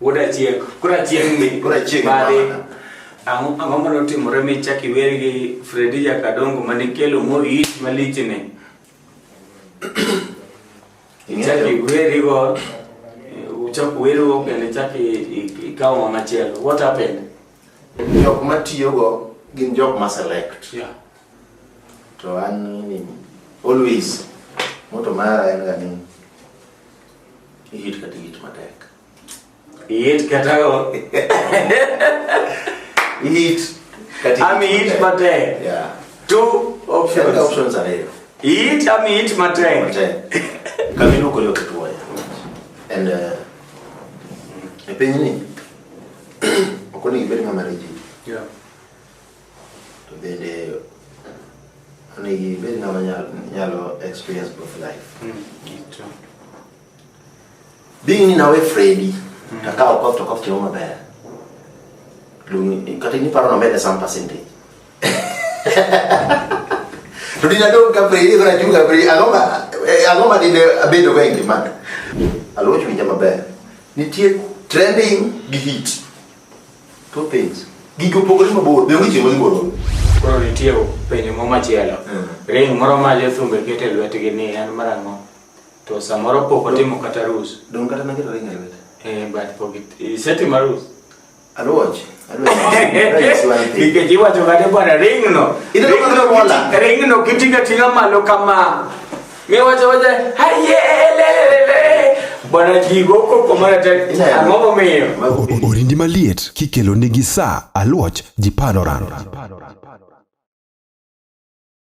Wuod achieng', koro achieng' ni Koro achieng' bade. mama. Ang'o ang'o ma notimore mi chak iwer gi Fredi Jakadongo ma nikelo mo ich malichni? Ichak iwerigo, uchak uwerigo kendo ichak i- i- ikaw ng'ama chielo. What happened? jok ma tiyogo gin jok ma select Yeah. to an ni always moto mara en ga ni ihit kata ihit matek Eat katago. Eat. Kati Ami eat mate. Yeah. Two options. Kati options are here. Eat ami eat mate. Mate. Kamino ko yo kituwa. And uh, e penyi ni. Okoni ibedi mama reji. Yeah. To bende onegi ibedi na nyalo experience both life. Mm. Eat. Being ni nawe Freddy, mm. kaka okwa to kof choma baya. Lungi, kata ni paro na mede some percentage. To dina do ka Freddy kora chunga Freddy, aloma, eh, aloma dine abedo wengi man. Alo chunga maber. Nitie trending gi hit. Two things. Gigo pogore mabor, be wichi mo mabor. koro nitie penjo mo machielo ring moro ma jothumbe keto e lwetgi ni en marang'o To samoro pok otimo kata rus. Dong kata naketo ring e lwete. Eh, but pok isetimo arus. Aruoch. Nikech iwacho kata bwana ringno. Ringno kitinga tinga malo kama. Miwacho wacha haye lelelele. Bwana jigo koko mara ta ang'o momiyo. Orindi maliet kikelo nigi sa aluoch ji panoran.